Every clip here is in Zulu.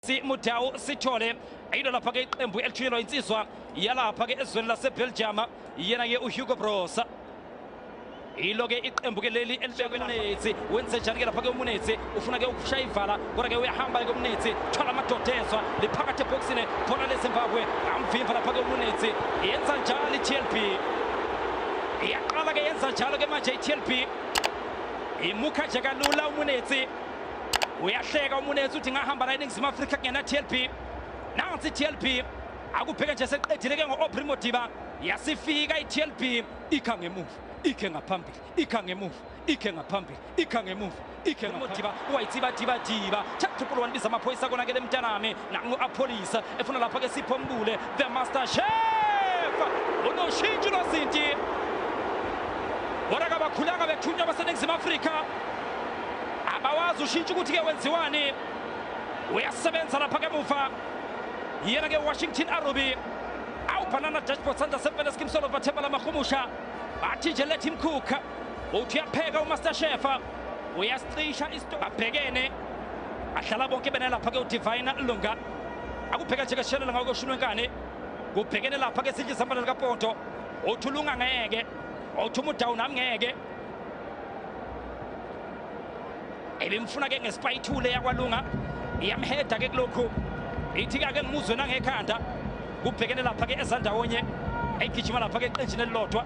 simudau sithole ayilo lapha ke iqembu elithunyelwa insizwa yalapha ke ezweni lasebelgium yena ke uhugo bros yilo ke iqembu ke leli elibekunethi wenze njani ke lapha ke umunethi ufuna ke ukushaya ivala kodwa ke uyahamba ke umunethi thwala amadoda ezwa liphakathi ebhokisini khona lezimbabwe amvimva lapha ke umunethi yenza njalo i-tlb iyaqala ke yenza njalo ke manje i-tlb imukha nje kalula umunethi uyahleka umunetsi uthi ngahamba la eningizimu afrika kungena tlb nansi tlb akubheke nje seqedile ke ngo-opri modiba yasifika i-tlb ikha ngemuva ikhe ngaphambili ikha ngemuva ikhe ngaphambili ikha ngemuva ikhe modiba wayithibadibadiba chapter 1 biza amaphoyisa konakele mntanami nangu apolice efuna lapha ke sipho mbule the master chef unoshintsho lwazinti kodwa kabakhulanga bethunywa baseningizimu afrika abawazi ushintsho ukuthi-ke wenziwani uyasebenza lapha ke muva yena ke washington aruby awubhanana dashboard sandla sempela sikimsolo bathemba lamahumusha bathi nje let him cook uthi uyapheka umaster shefa uyasicisha isto abhekene ahlala bonke bena lapha ke udivine lunga akubheka nje keshelela ngawo koshulwe nkane kubhekene lapha ke sidla isambala likapoto othi ulunga ngeke othi umudawu nami ngeke ebimfuna ke ngesipayithule yakwalunga iyamheda ke kulokhu ithi kake ngimuzwe nangekhanda kubhekene lapha ke ezandawonye egijima lapha ke eqenjini elilodwa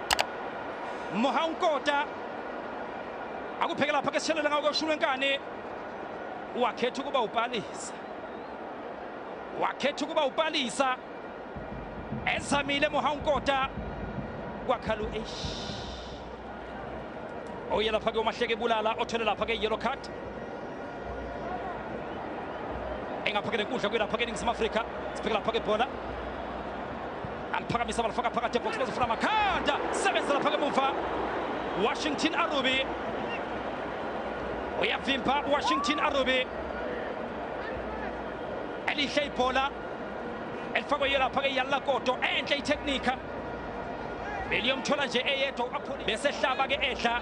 Mohankota akupheke lapha ke sishelela ngawo koshulu enkani wakhetha ukuba upalisa wakhetha ukuba upalisa ezamile Mohankota kwakhalu eish oye lapha ke umahleke bulala othole lapha ke yellow card engaphakele kudla kwelaphakeni ngiseningizimu afrika siphekela phaka ibhola aliphakamisa balifaka phakathi ebhox bezofuna amakhanda sebenzela phaka emuva washington arubi uyavimba washington arubi elihle ibhola elifakwe yelapha ke yalakoto enhle itheknika beliyomthola nje eyedwa uapholi besehlaba ke edla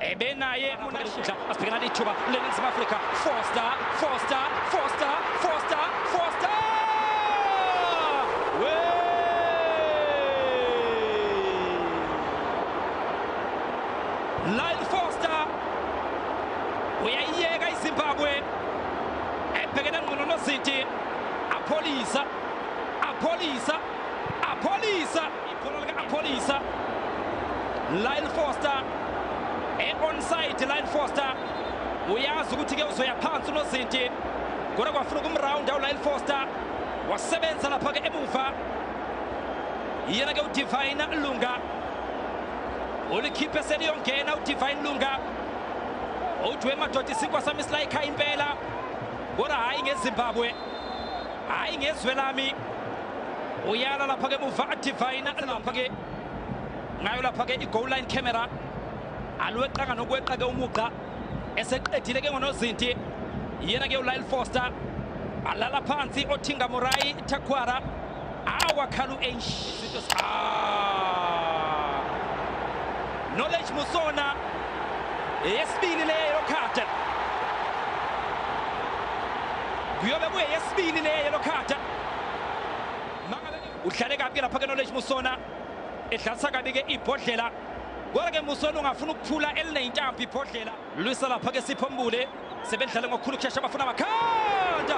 ebenaye munashidla asibhekana nethuba leningizimu afrika foster foster foster foster foster we lyle foster uyayiyeka izimbabwe ebhekene ngcono nozinti apholisa apholisa apholisa Ikhono lika-Ampholisa. Lyle Foster. E-onside Lyle Foster. Uyazi ukuthi-ke uzoya phansi unozinti. Kodwa kwafuna ukumrawunda uLyle Foster. Wasebenza lapha-ke emuva. Yena-ke uDivine Lunga. Ulikhiphe seliyongena uDivine Lunga. Udwe madoda isinkwa sami silayikhaya impela. Kodwa hhayi ngeZimbabwe. Hhayi ngezwe lami. uyala lapha-ke muva adivayina lapha-ke ngayo lapha-ke i-goal line camera alweqanga nokweqa-ke umugqa eseqedile ke ngonozinti yena-ke ulyle foster alala phansi othinga morayi takwara awakhala u-h knowledge musona eyesibili leyo khada kuyobe kuyeyesibili leyo khada udlale kabi lapha ke knowledge musona edlalisa kabi ke ibhodlela kodwa ke musona ungafuna ukuphula elineyintambo ibhodlela lwisa lapha ke sipho mbule sebedlale ngokukhulu ukushesha abafuna amakhanda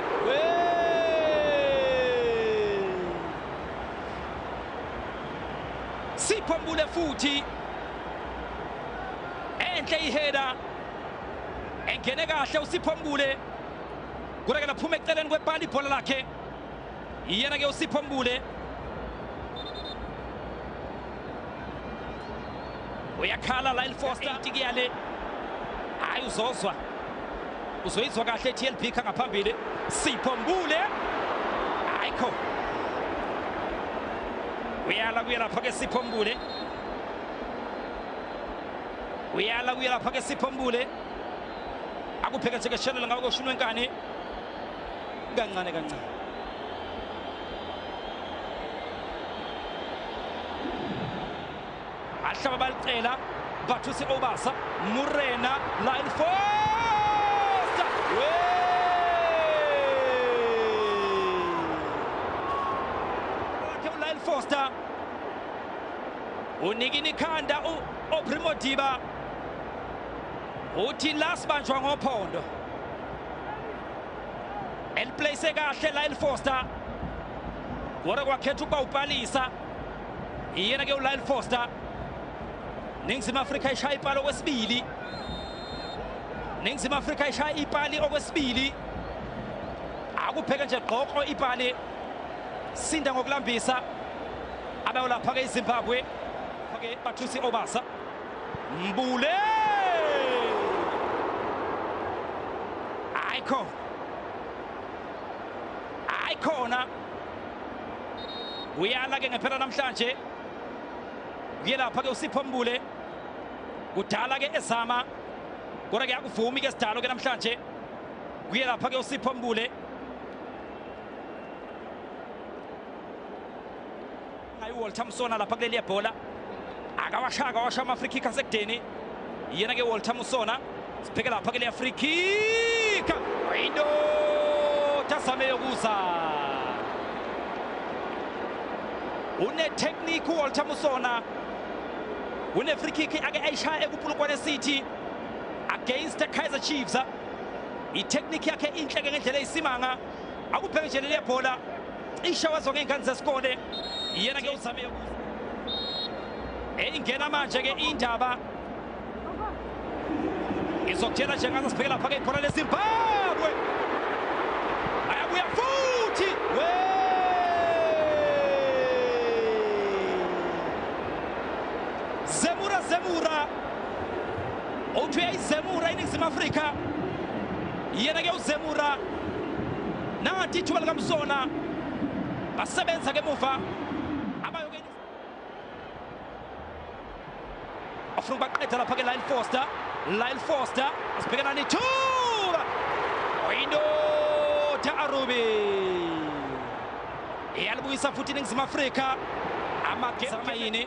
sipho mbule futhi enhle iheda engene kahle usipho mbule Kudake laphuma eceleni kwepali ibhola lakhe. Iyena ke uSipho Mbule. Uyakhala Lyle Foster itikiyale. Hayi uzozwa. Uzoyizwa kahle TLB kha ngaphambili. Sipho Mbule. Ayikho. Uyala kuya lapha ke Sipho Mbule. Uyala kuya lapha ke Sipho Mbule. akupheketheke shelela ngawo koshini wenkani kancane kancane ahlaba balicela bathuse obasa murena line first wakhe ulyle foster unikini ikhanda uprimo diba uthi la sibanjwa ngophondo eliplace kahle la elifoster kodwa kwakhetha ukuba upalisa iyena ke ulyle foster ningizimu afrika ishaya ipali okwesibili ningizimu afrika ishaya ipali okwesibili akupheke nje gqoko ipali sinda ngokulambisa abayolapha-ke izimbabwe ke bathusi obasa Mbule! Aiko. Aikona. Uyala ke ngempela namhlanje. Kuyelapha ke uSipho Mbule. Kudala ke ezama. Kodwa ke akuvumi ke sidalo ke namhlanje. Kuyelapha ke uSipho Mbule. Ngayi Walter Musona lapha kuleli yebhola. Akawasha akawasha ama free kick asekudeni. Yena ke Walter Musona sibheke lapha kuleli ya free kick. Into tasame yokuza. Une technique Walter Musona. Une free kick ake ayishaya ekupulukwane City against the Kaizer Chiefs. I technique yakhe inhle ke ngendlela eyisimanga. Akubheke nje leli yebhola. cishe wazo ngey'ngane zesikole yena ke uzame eyingena manje ke indaba izokutshela nje ngaze sibheke lapha ke ibhola lezimbabwe ayabuya futhi we zemura zemura uthi uyayizemura iningizimu afrika yena ke uzemura nangathi ithuba likamsona basebenza ke muva abayokeni afuna ukubaqeda lapha ke lyle foster lyle foster asibhekana nethuba oyindoda arubi iyalibuyisa futhi iningizimu afrika amagemayini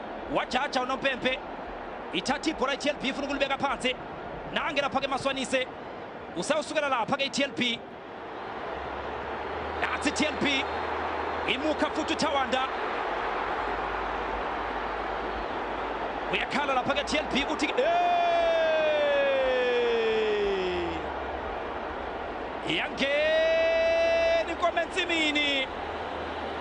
wajaja unompempe ithatha ibhola i-tlb ifuna ukulibeka phansi nange lapha-ke maswanise usayosukela lapha-ke i-tlb nathi i-tlb imukha futhi uthawanda uyakhala lapha-ke i-tlb ukuthi iyangena inkomo ensimini